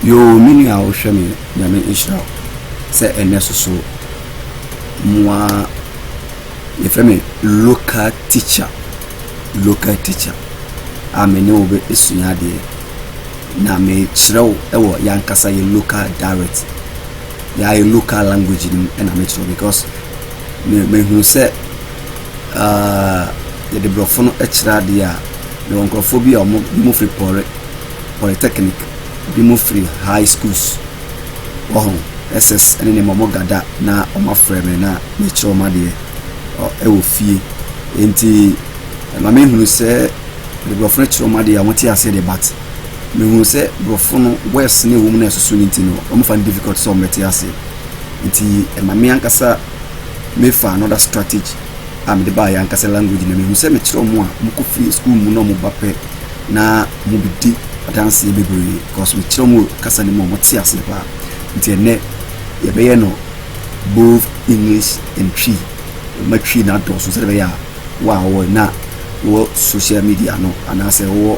Yoo me nua wohwɛ me nyame nhyira wo sɛ ɛnɛ soso moa yɛfrɛ me local teacher local teacher a me ne wo bɛsua adeɛ na mekyerɛ wo ɛwɔ yɛankasa yɛ local direct yɛayɛ local language no mu ɛna mekyerɛ wo because mehunu sɛ Aah yɛde brɔfo no kyerɛ adeɛ a mewɔ nkurɔfoɔ bi a ɔmo bi mo firi pɔre polytechnic bi mo firi high schools wɔho ss ɛne nneɛma ɔmo gada na ɔmo afrɛ me na mekyerɛ ɔmo adeɛ ɛwɔ fie enti ɛma me hunu sɛ de brɔfo no kyerɛ ɔmo adeɛ a ɔmo te aseɛ de bat me hunu sɛ brɔfo no words ne ɛwɔ mu na ɛsoso ne nti no ɔmo fa no difficult sɛ ɔmo bɛte aseɛ nti ɛma me ankasa me fa another strategy a mede baa yɛ ankasa language na mehu sɛ mekyerɛ ɔmo a ɔmo kɔ fie school mu na ɔmo ba pɛ na ɔmo bedi adanseɛ bebree because mekyerɛ ɔmo kasa no mu ɔmo te aseɛ paa nti ɛnɛ yɛbɛyɛ no both English and Twi ma Twi na adɔɔso sɛ ɛbɛyɛ a wo a wɔ na wɔ social media no anaasɛ wɔ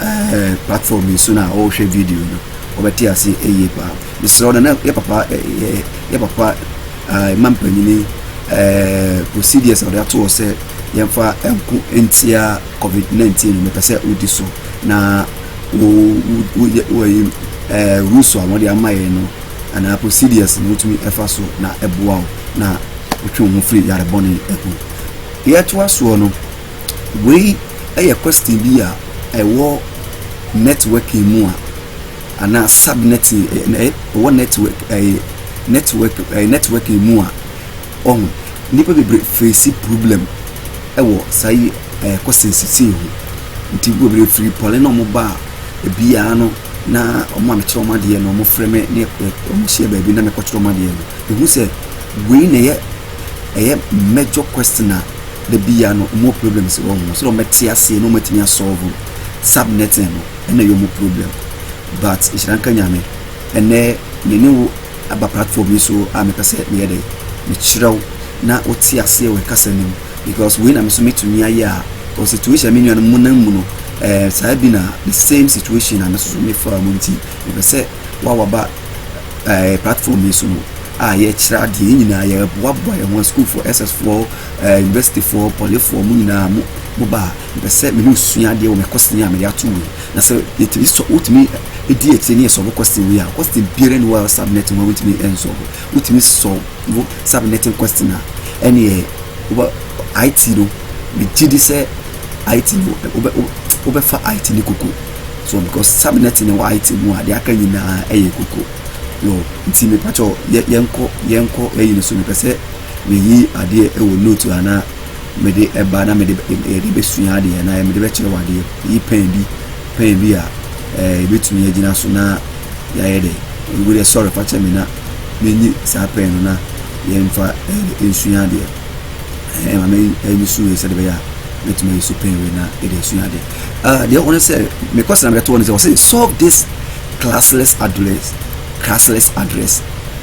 ɛɛ eh, platform yi so na wɔhwɛ video no wɔbɛte ase ɛyie paa mesrɛ no na yɛ papa ɛɛ eh, eh, yɛ papa ɛɛ ma mpanyini ɛɛ procedures a wɔde ato hɔ sɛ yɛmfa nko ntia covid nineteen no mepɛ sɛ wodi so na wo wo woyɛ wɔyi ɛɛ rules a wɔde ama yɛn no anaa procedures no wotumi ɛfa so na ɛboa wo na wotwe wo ho firi yarebɔne ɛho yɛtoa soɔ no wei ɛyɛ question bi a ɛwɔ networking mu a. anaa subnetting ɛwɔ network ɛyɛ network ɛyɛ networking mu a ɔho nnipa bebree face problem ɛwɔ saa yi ɛyɛ questions sisi ho nti bebree firi pɔle na wɔn ba ebiara no na wɔn a mekyerɛ wɔn adeɛ no wɔn frɛ me ne wɔn hyia baabi na mekɔkyerɛ wɔn adeɛ no ehu sɛ wei na ɛyɛ ɛyɛ major question a da biara no wɔn problems wɔ ho so na wɔn te aseɛ na wɔn atumi asɔlvo subnetting no. Ɛna ɛyɛ ɔmo problem but nhyira nka Nyame ɛnɛ me ne wo aba platform yi so a mepɛ sɛ meyɛ dɛn mekyerɛ wo na wo te aseɛ wɔ ɛkasa no mu because wei na me nso mɛtumi ayɛ a because situation a me nuanom mu nam mu no ɛɛ saa bi na the same situation a me nso so me faa mu nti mepɛ sɛ wo a waba ɛɛ platform yi so no a yɛkyerɛ adeɛ yɛn nyinaa yɛboaboa yɛn ho a sukuufoɔ SS foɔ ɛɛ universityfoɔ polyfoɔ mo nyinaa mo mo ba a Mepɛ sɛ me ne wo sua adeɛ wɔ me question a mede ato wei. Na sɛ yɛtumi sɔ, wotumi di akyire ne yɛsɔbo question wei a, question biara ni wɔ a subnet mu a wotumi nsɔbo. Wotumi sɔbo subnetting question a, ɛneɛ wobɛ IT no, megye di sɛ IT no wobɛ wobɛfa IT ne koko. So because subnetting no wɔ IT mu a, deɛ aka nyinaa ɛyɛ koko. Yo, nti mepɛ kyɛw yɛnkɔ yɛnkɔ ɛyi no so mepɛ sɛ meyi adeɛ ɛwɔ note anaa Mede ɛba na mede yɛde bɛsua adeɛ na mede bɛkyerɛ wɔ adeɛ yi pɛn bi pɛn bi a yɛbɛtumi eh, agyina so na yɛayɛ dɛ ɛgu dɛ sɔre fa kyɛ me na menyi saa pɛn no na yɛmfa eh, nsua adeɛ eh, ma menyi so wei sɛde bɛyɛ a mɛtumi ayi so pɛn wei na yɛde asua adeɛ ah, deɛ wɔne sɛ mekɔ sena mɛtoɔ no sɛ wɔsɛ solve this classless address classless address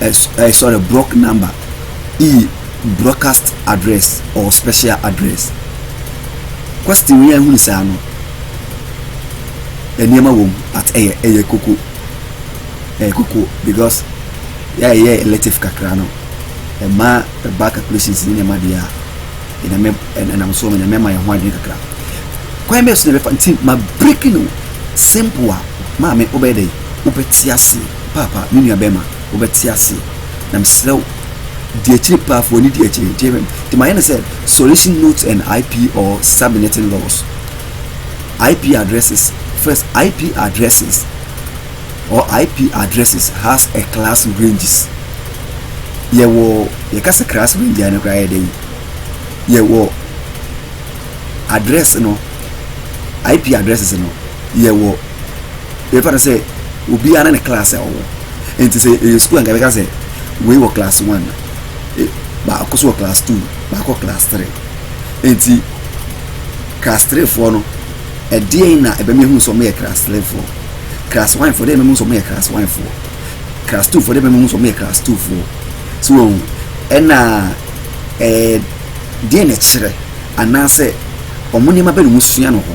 eh, eh, sorry, block number, E, broadcast address or special address. Question yi ehunu saa no, nneɛma wɔ mu but ɛyɛ eh, ɛyɛ eh, koko, ɛyɛ eh, koko because yɛayɛ elective kakra no ɛma ɛba calculations ne nneɛma deɛ a ɛnam ɛnam so ɛnam ɛma yɛn ho adwene kakra kwan bɛyɛ so na ɛbɛfa nti ma break no simple a maame wobɛyɛ dɛ wobɛte ase. Paapa, me nuabɛma, wobɛte ase, na mesrɛ wo, di akyire paa, fa w'ani di akyire, nti ɛbɛm, nti mayɛ no sɛ Solution Notes and IP or Subnetting Laws, IP addresses, first, IP addresses or IP addresses has a class ranges, yɛwɔ, yɛka sɛ class range a no koraa yɛ dɛn, yɛwɔ address no, IP addresses no, yɛwɔ yɛbɛfa no sɛ obiara ne ne class a ɔwɔ nti sɛ ɛyɛ sukuu anka yɛbɛka sɛ wei wɔ class one e, baako so wɔ class two baako class three nti class three foɔ no ɛdeɛn na ɛbɛma ehu sɛ ɔmoyɛ class three foɔ class one foɔ deɛ ɛbɛma ehu sɛ ɔmoyɛ class one foɔ class two foɔ deɛ ɛbɛma ehu sɛ ɔmoyɛ class two foɔ so wɔn ɛna ɛɛ deɛn na ɛkyerɛ anaasɛ wɔn nneɛma bɛ na wɔn sua no hɔ.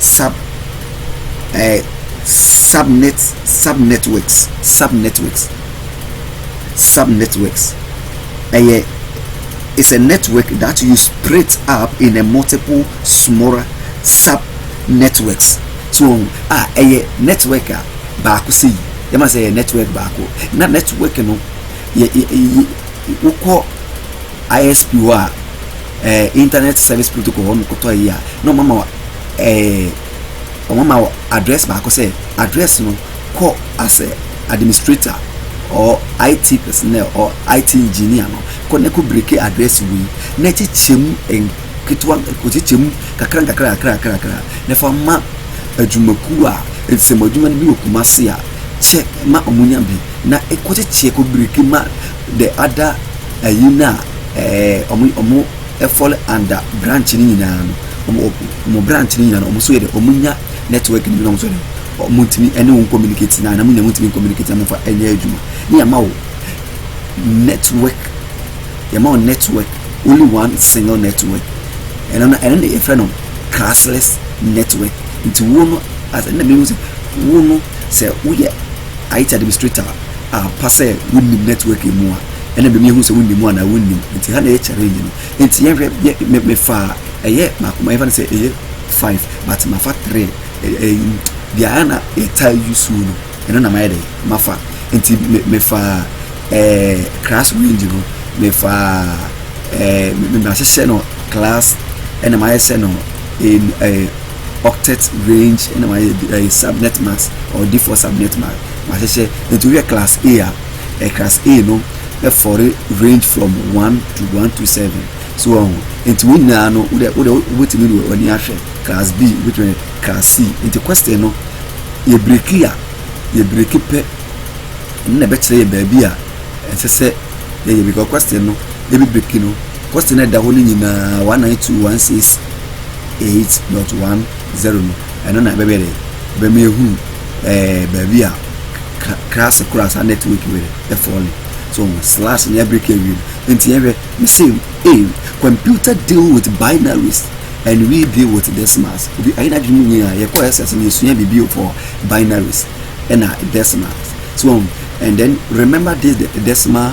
sub eh, subnet subnetworks subnetworks subnetworks ɛyɛ eh, it's a network that you split up in a multiple smaller subnetworks so wɔn a ah, ɛyɛ network a baako sɛ yi yɛma sɛ ɛyɛ network baako na network no yɛ yɛ yɛ wokɔ. ISP hɔ a, ɛɛ internet service protocol hɔ no kɔtɔɔ yi a na wɔn ama ɛɛ wɔn ama wɔ address baako sɛ address no kɔ asɛ administrator or IT personnel or IT engineer no kɔ na kɔ break address wei na kyekyɛ mu nketewa kɔkyekyɛ mu kakra nkakra kakra kakra kakra na fa ma adwumakuo a nsɛm adwuma no bi wɔ Kumasi a kyɛ ma wɔn nya bi na kɔkyekyɛ kɔ break ma. The other ayi no a ɛɛ ɔmo ɔmo ɛfɔl under branch no nyinaa no ɔmo ɔmo branch no nyinaa no ɔmo so yɛ dɛ ɔmo nya network no bi na ɔmo so yɛ dɛ ɔmo ntumi ɛne wɔn communicate na na mo nyɛ mo ntumi communicate na mo fa ɛnyɛ adwuma ne yɛ ma wo network yɛ ma wo network only one single network ɛno na ɛno na yɛ fɛ no classless network nti wo no as ɛna mi hu sɛ wo no sɛ woyɛ IT administrator ampa sɛ wonnim network yi mu a ɛna mimi ehu sɛ wonnim mu anaa wonnim nti ha na yɛ challenge no nti yɛhwɛ yɛ me me fa ɛyɛ baako ma yɛfa no sɛ ɛyɛ five but ma fa three ɛyi deɛ ayɛ na yɛtaa yi su no ɛno na ma yɛ dɛ ma fa nti me me fa ɛɛ class range no me fa ɛɛ me ma hyehyɛ no class ɛna ma yɛ sɛ no ɛɛ. octet range ɛna mayɛ ɛyɛ subnet mask or default subnet mask mahyehyɛ nti wohwɛ class a a ɛ class a no ɛfɔre range from one to one to seven so wɔn ho nti wɔn nyinaa no wode wode wobɛtumi de wɔn ani ahwɛ class b wobɛtumi class c nti question no yɛ breki a yɛ breki pɛ ɛno na ɛbɛkyerɛ yɛ baabi a ɛsɛ sɛ yɛyɛ because question no yɛbi breki no question no ɛda hɔ no nyinaa one nine two one six eight dot one zero no ɛno na ɛbɛbɛ dɛ ɛbɛma ehu ɛɛ baabi a klaase koro a saa network wɔ dɛ ɛfɔle so slash ne abirika awie no nti yɛhwɛ ne se ee computer deal with binaries and we deal with decimals obi ayɛ n'adwene mu nyinaa yɛkɔ ɛsɛ sɛ yɛsua biribi for binaries ɛna decimals so and then remember this the decimal.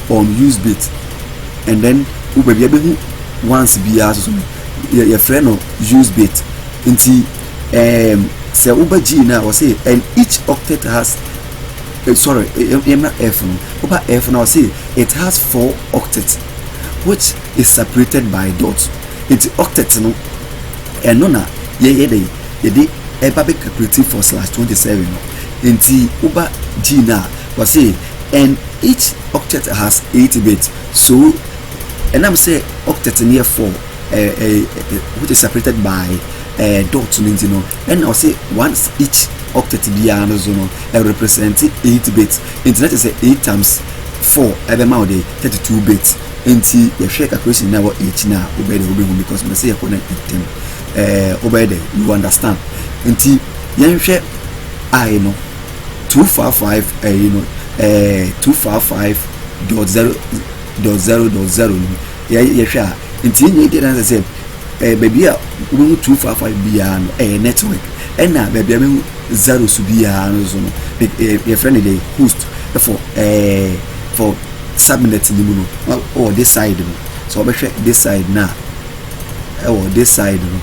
on use bit and then wo baabi abɛhu once biara soso no yɛ yɛfrɛ no use bit nti um, sɛ woba g no a wɔse and each octet has uh, sorry yɛmmra f no woba f no a wɔse it has four octet which is separated by dot nti octet no ɛno na yɛyɛ dɛ yɛde ɛba bɛ calculative for slash twenty seven no nti woba g no a wɔse And each octet has eight bits, so ɛnam sɛ octet no yɛ four which is separated by dot no nti no, ɛna ɔse one each octet biara no so no ɛrepresent eight bits, nti na kyerɛ sɛ eight times four ɛbɛma wo de thirty two bits, nti yɛhwɛ calculation na ɛwɔ yɛn akyi no a wobɛyɛ dɛ wobɛhu because mepɛ sɛ yɛkɔ no ntɛm, wobɛyɛ dɛ you understand, nti yɛnhwɛ I no. two four five ɛyi no ɛɛ two four five dot zero dot zero dot zero no yɛ yɛhwɛ a nti yɛn nyɛ gye dansa sɛ ɛɛ baabi a wɔbɛhu two four five biara no ɛyɛ network ɛna baabi a wɔbɛhu zero so biara no so no ɛɛ yɛfrɛ no de host ɛfɔ ɛɛ fɔ subnet no mu no ɛwɔ this side no sɛ wɔbɛhwɛ this side no a ɛwɔ this side no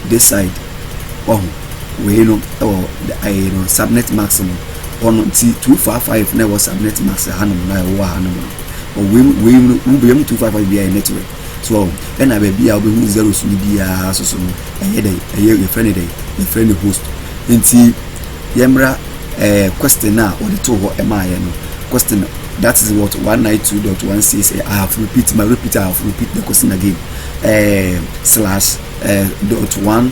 this side ɔho. wei no wɔ ɛyɛ no subnet mask no hɔ no nti two five five na ɛwɔ subnet mask hanom na ɛwɔ hanom no ɔwei mu wei mu no mu bɛyɛ mu two five five bi ayɛ network so ɛna baabi a wobɛhu zeros no biara so so no ɛyɛ dɛ ɛyɛ yɛfrɛ no dɛ yɛfrɛ no host nti yɛmmra ɛɛ question a wɔde to hɔ ɛma yɛ no question that is what one nine two dot one six eh, I have repeat my repeat I have repeat the question again ɛɛ eh, slash ɛɛ eh, dot one.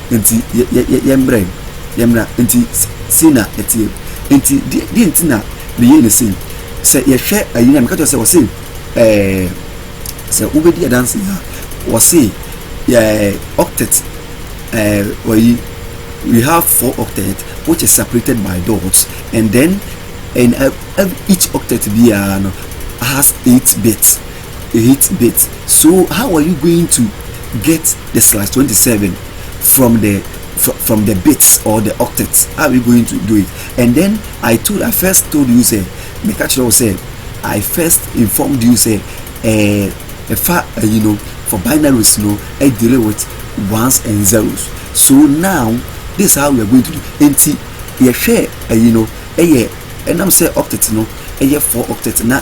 Enti yɛmmra mu, yɛmmra. Enti sei na ɛteɛ. Enti deɛ nti na meyɛi ne sei, sɛ yɛhwɛ ayi no a, meka kyerɛ sɛ ɔse ɛɛ sɛ wobɛdi adanse a, ɔse yɛ octet ɛɛ ɔyi we have four octet which is separated by dots and then and uh, each octet biara no has eight bits. Eight bit so how are you going to get the slash twenty seven from the from, from the bits or the octets how are you going to do it and then I told I first told you say me catch you say I first informed you say eh if I uh, you know for binaries no I deal with ones and zeros so now this is how we are going to do nti yɛhwɛ eh, you know ɛyɛ ɛnam sɛ octet no ɛyɛ four octet na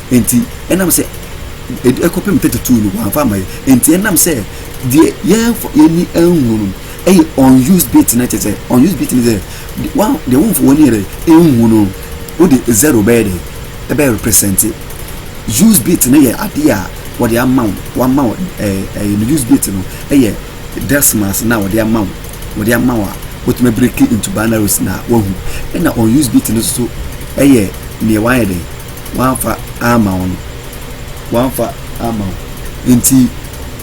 Enti, ɛnam sɛ ɛde ɛkɔpem thirty two no wɔamfa amma yɛn. Enti ɛnam sɛ deɛ yɛmfa yɛn ani anhu no ɛyɛ unused bit no kyerɛ sɛ unused bit no sɛ wɔn deɛ wɔmfa wɔn ani yɛ dɛ nhu no wode zero bɛyɛ dɛ ɛbɛyɛ represent used bit no yɛ adeɛ a wɔde ama wo wɔama wo ɛɛ ɛyɛ no used bit no ɛyɛ decimals no a wɔde ama wo wɔde ama wo a wotumi abiriki into binaries na wahu ɛna unused bit no nso ɛyɛ nea wɔayɛ dɛ wɔamfa amma wo no, wɔamfa amma wo. Nti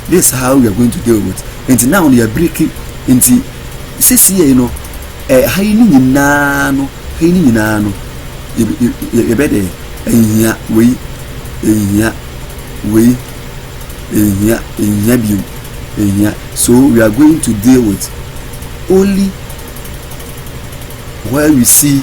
this is how we are going to deal with. Nti now no yɛ biriki. Nti sisi yɛ no eh, ha yi ne nyinaa no, ha yi ne nyinaa no, yɛbɛ dɛ ɛnhia wei, ɛnhia wei, ɛnhia, ɛnhia bio, ɛnhia. So we are going to deal with only where we see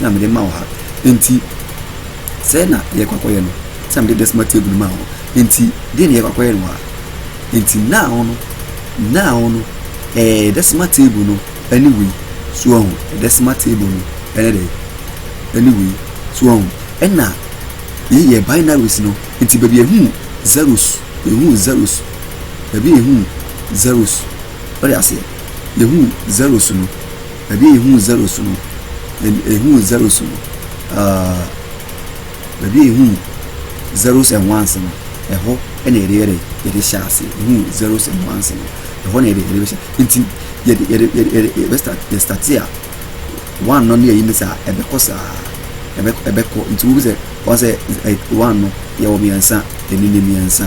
na mede ma wo ha. Enti, sɛɛ na yɛrekɔ akɔyɛ no, sɛ na mede desima table maa wo. Enti, deɛ na yɛrekɔ akɔyɛ no wɔ ha. Enti, now no, now no, ɛɛ, desima table no ɛne wei. So ɔho, desima table no ɛne dɛ, ɛne wei. So ɔho, ɛna yei yɛ binaries no, enti baabi ehu zeros, ehu zeros, baabi ehu zeros, ɔde aseɛ, ehu zeros no. Baabi a yɛhuu zeros no, yɛhuu zeros no, uh, baabi a yɛhuu zeros and ones no, ɛhɔ na yɛde yɛde yɛde hyɛ ase. Yɛhuu zeros and ones no, ɛhɔ na yɛde yɛde bɛhyɛ. Nti yɛde yɛde yɛde yɛde yɛbɛstart yɛstarte a, one no ne yɛyi ne saa, ɛbɛkɔ saa, ɛbɛkɔ ɛbɛkɔ. Nti wohu sɛ wɔn sɛ one no yɛwɔ mmiɛnsa, ɛni ne mmiɛnsa.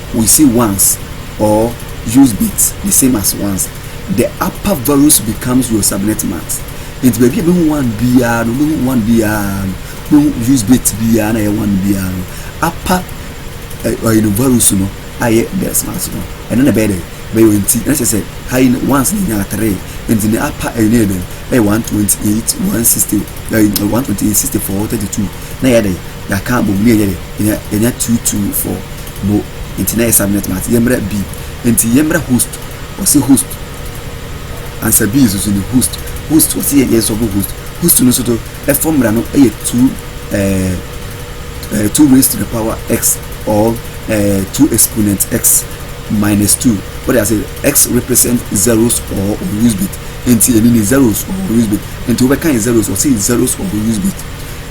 we say once or use bit the same as once the upper varus becomes your subnet max nti baabi a bɛhu one biara no bɛhu one biara no bɛhu use bit biara na ɛyɛ one biara no upper ɛyɛ no varus no ayɛ best max no ɛno na ɛbɛyɛ dɛ bɛyɛ nti ɛna kyerɛ sɛ ha yi once na ɛnya three nti ne upper ɛyɛ no yɛ dɛ ɛyɛ one twenty eight one sixty ɛyɛ one twenty eight sixty four thirty two na ɛyɛ dɛ yɛaka abom ne ɛyɛ dɛ ɛnya two two four No nti na yɛ subnet mate yɛmmrɛ bi nti yɛmmrɛ host ɔse host ansa bi nso so ni host host ɔse yɛ yɛn sɔfo host host no nso to ɛfɔ mmra no ɛyɛ two ɛɛ eh, ɛɛ eh, two raised to the power x or ɛɛ eh, two exponent x minus two what I say x represent zeros or use bit nti ɛni ni zeros or use bit nti wobɛka yɛ zeros ɔse zeros or use bit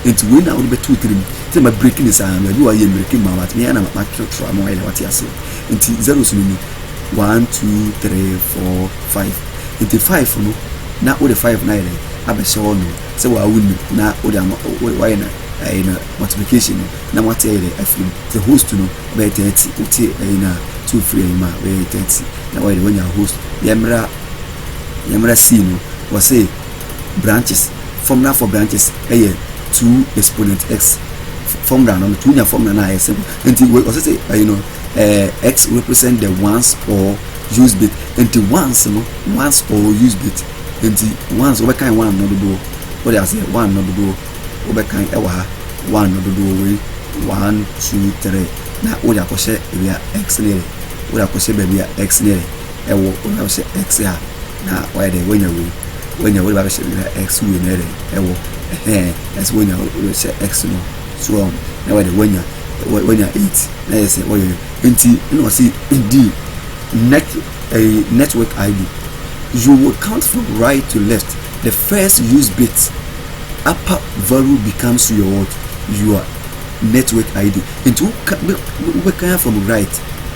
nti wei na wode bɛto tirim Sɛ ma break ne saa no ebi wɔ yɛ mmiriki mma wate meyɛ na ma kyerɛ kyerɛ ama wayɛ na wate aseɛ nti zeros no ni one two three four five nti five no na wode five no ayɛ dɛ abɛhyɛ hɔ nom sɛ waa wo nim na wode ama wayɛ na ɛyɛ na multiplication no na wate ayɛ dɛ afiri mu sɛ host no bɛyɛ thirty wote ɛyɛ na so firi ɛyɛ mu a bɛyɛ thirty na wayɛ dɛ wanya host yɛmmra yɛmmra sii no wɔ se branches formula for branches ɛyɛ two exponent x formula no two nya formula no a ɛyɛ simple nti wei ɔsɛ sɛ ɛyi no ɛɛ x represent the ones or use bit nti ones no ones or use bit nti ones wɔbɛkan one no dodoɔ wɔde aseɛ one no dodoɔ wɔbɛkan ɛwɔ ha one no dodoɔ wei one two three na wɔde akɔhyɛ ebi a x no yɛ wɔde akɔhyɛ baabi a x no yɛ ɛwɔ wɔde akɔhyɛ x a Na wayɛ dɛ wanya wei wanya wei de ba bɛhyɛ na x wei na yɛ dɛ ɛwɔ ɛhɛn ɛsɛ wanya hyɛ x no so wɔn na wayɛ dɛ wanya wanya eight na yɛ sɛ wɔyɛ nti ɛna ɔsi di net ɛyi network id you will count from right to left the first use bit upper value becomes your what your network id nti wobɛkan from right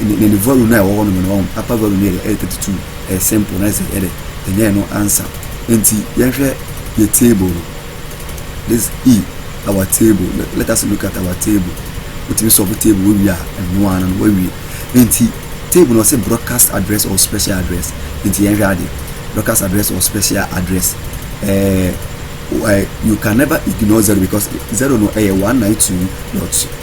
ne ne value no a ɛwɔ hɔ nom no wɔn upper value no yɛ thirty two ɛyɛ simple na ɛsɛ ɛdɛ ɛnyɛ ɛno ansa nti yɛnhwɛ yɛ table no this e our table let us look at our table wotumi sɔfo table wo wie a ɛno ano no wawie nti table no ɔsɛ broadcast address or special address nti yɛnhwɛ ade broadcast address or special address ɛɛ you can never ignore zero because zero no ɛyɛ one nine two dot.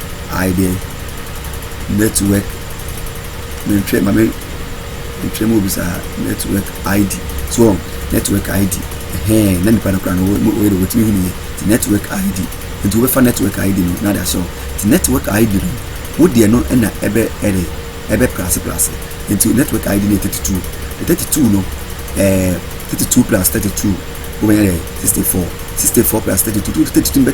I deɛ network mentwerɛ ma me ntwerɛ mu obi saa network id so wɔn network id ɛhɛn na nipa no kora no wɔyɛ de wɔtumi hu ne yɛ ti network id nti wɔbɛfa network id no na de ahyɛ wɔn ti network id no wo deɛ no ɛna ɛbɛ ɛde ɛbɛ plase plase nti network id no yɛ thirty two the thirty two no ɛɛ thirty two plus thirty two wɔbɛyɛ dɛ sixty four sixty four plus thirty two thirty two bɛ.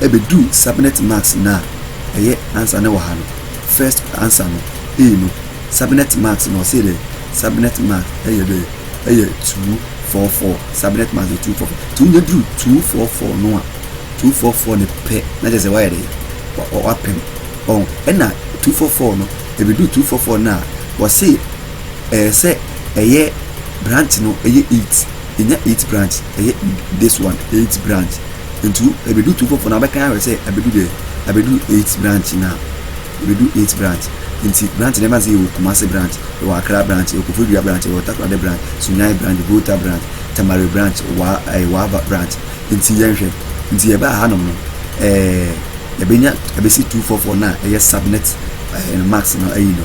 Ebeduu Subnet Mask no a ɛyɛ ansa no wɔ ha no, first ansa no, ei no, Subnet Mask no ɔsee dɛ, Subnet Mask yɛ dɛ, yɛ two four four, Subnet Mask yɛ two four four, ntsi onya dur two four four no a, two four four no pɛ na kyerɛ dɛ ɔayɛ dɛ, ɔ-ɔ ɔapem, ɔho. Nna two four four no, ebeduu two four four no a, wɔsee ɛɛ sɛ ɛyɛ branch no yɛ eight, enya eight branch, ɛyɛ this one eight branch. ntu ebedu tu foforo na abɛkan ahwɛ sɛ abedu dɛ abedu eighth branch na ebedu eighth branch nti branch na ɛma se yɛwɔ kumase branch yɛwɔ akra branch yɛwɔ kofodua branch yɛwɔ takorade branch sunyan branch volta branch tamale branch waa ɛɛ eh, waaba branch nti yɛnhwɛ nti yɛbaa hanom no ɛɛ eh, yɛbɛnya ɛbɛsi two four four na ɛyɛ subnet ɛɛ eh, marks no ayi no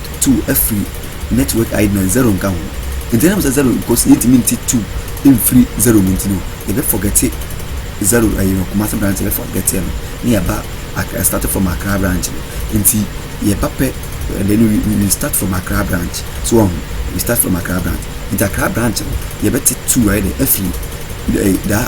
Two afiri network ID na zero nka ho nti ɛnam sɛ zero because yɛntumi nte two mfiri zero mu nti no yɛbɛ forgete zero ɛyɛ no Kumasi branch yɛbɛ forgete no na yɛba Accra start from Accra branch no nti yɛba pɛ and then we, we, we start from Accra branch so wɔn ho we start from Accra branch nti Accra branch no yɛbɛte two ayɛ dɛ afiri ɛyɛ da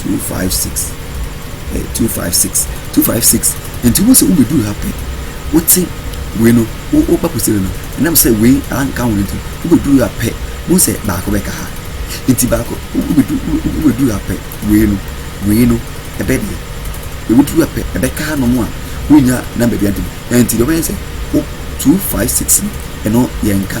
two five six eh, two five six two five six nti wo sɛ wobɛduru ha pɛ wote wei no woba kɔsɛre no ɛnam sɛ wei anka ho nti wobɛduru ha pɛ wohu sɛ baako bɛka ha nti baako wobɛduru ha pɛ wei no wei no ɛbɛ deɛ ɛbɛduru ha pɛ ɛbɛka ha nom a wonya namba bia ntɛm ɛnti deɛ wobɛyɛ sɛ two five six no ɛno yɛnka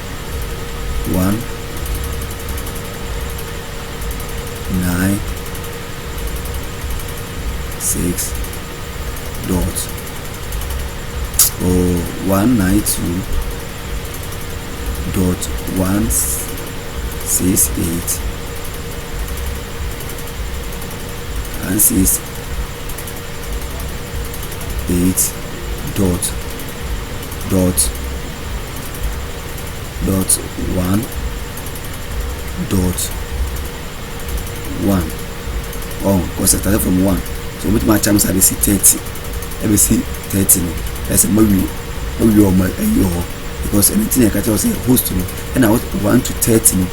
one, nine, six, dot, oh, one, nine, two, dot, one, six, eight, one, six, eight, dot, dot, dot one dot one ɔn kɔsɛ tare fam one so wɔn bɛtumi akyɛ mi sɛ abɛsi thirty ɛbɛsi thirty no ɛsɛ mo awie mo awie wɔn ayi wɔ hɔ because ɛno ti na ɛka kyerɛ sɛ host no ɛna one to thirty no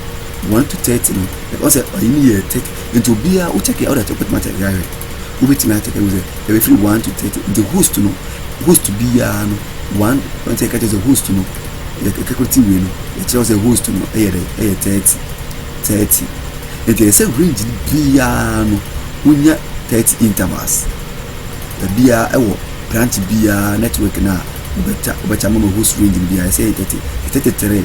one to thirty no ɛkɔ sɛ ɔyi ni yɛ thirty nti obiara o kyɛkɛ ɔda kyɛ ɔbɛtumi akyɛ ɛyɛ ahwɛ. wobɛtumi akyɛ kɛ sɛ ɛbɛfiri one to thirty nti host no host biara no one wɔn sɛ ɛka kyɛ sɛ host no ɛkɛkɔ ti wei no ɛkyerɛ sɛ host no ɛyɛ dɛ ɛyɛ thirty thirty nti ɛsɛ range biara no wonya thirty intervals baabiara ɛwɔ branch biara network no a wobɛkya wobɛkya mama host range no biara ɛsɛ ɛyɛ thirty thirty three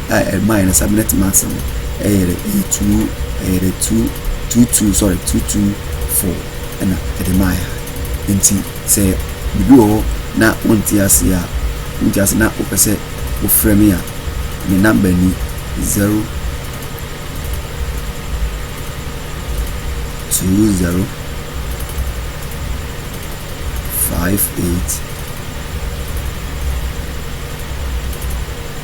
a ɛmaeɛ no subordinate marks no yɛ dɛ ɛyɛ two ɛyɛ dɛ two two two sorry two two four ɛna ɛde maa yɛ nti sɛ biribi wɔ hɔ na wonte ase a wonte ase na wopɛ sɛ wofrɛ me a me namba ni zero two zero five eight.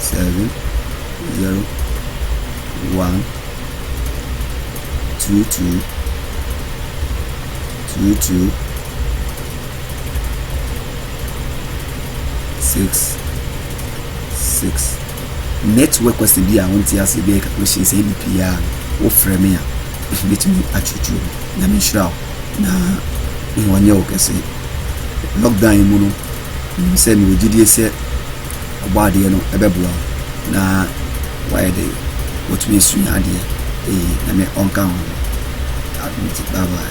seven zero one two two two two six six network kwasi bi a wɔn ti ase bi a ɛka question sɛ ɛdi pii a wɔfrɛ me a ɛbɛtumi atwitwi mu nyame nhyira wo na wɔnyɛ wo kɛse lockdown mu no Menim sɛ mewɔ gyidie sɛ Ɔbɔadeɛ no bɛboa wo na woayɛ dɛn? Woatumi asua adeɛ. Ee, Nyame ɔnka ho. Adom nti, bye bye.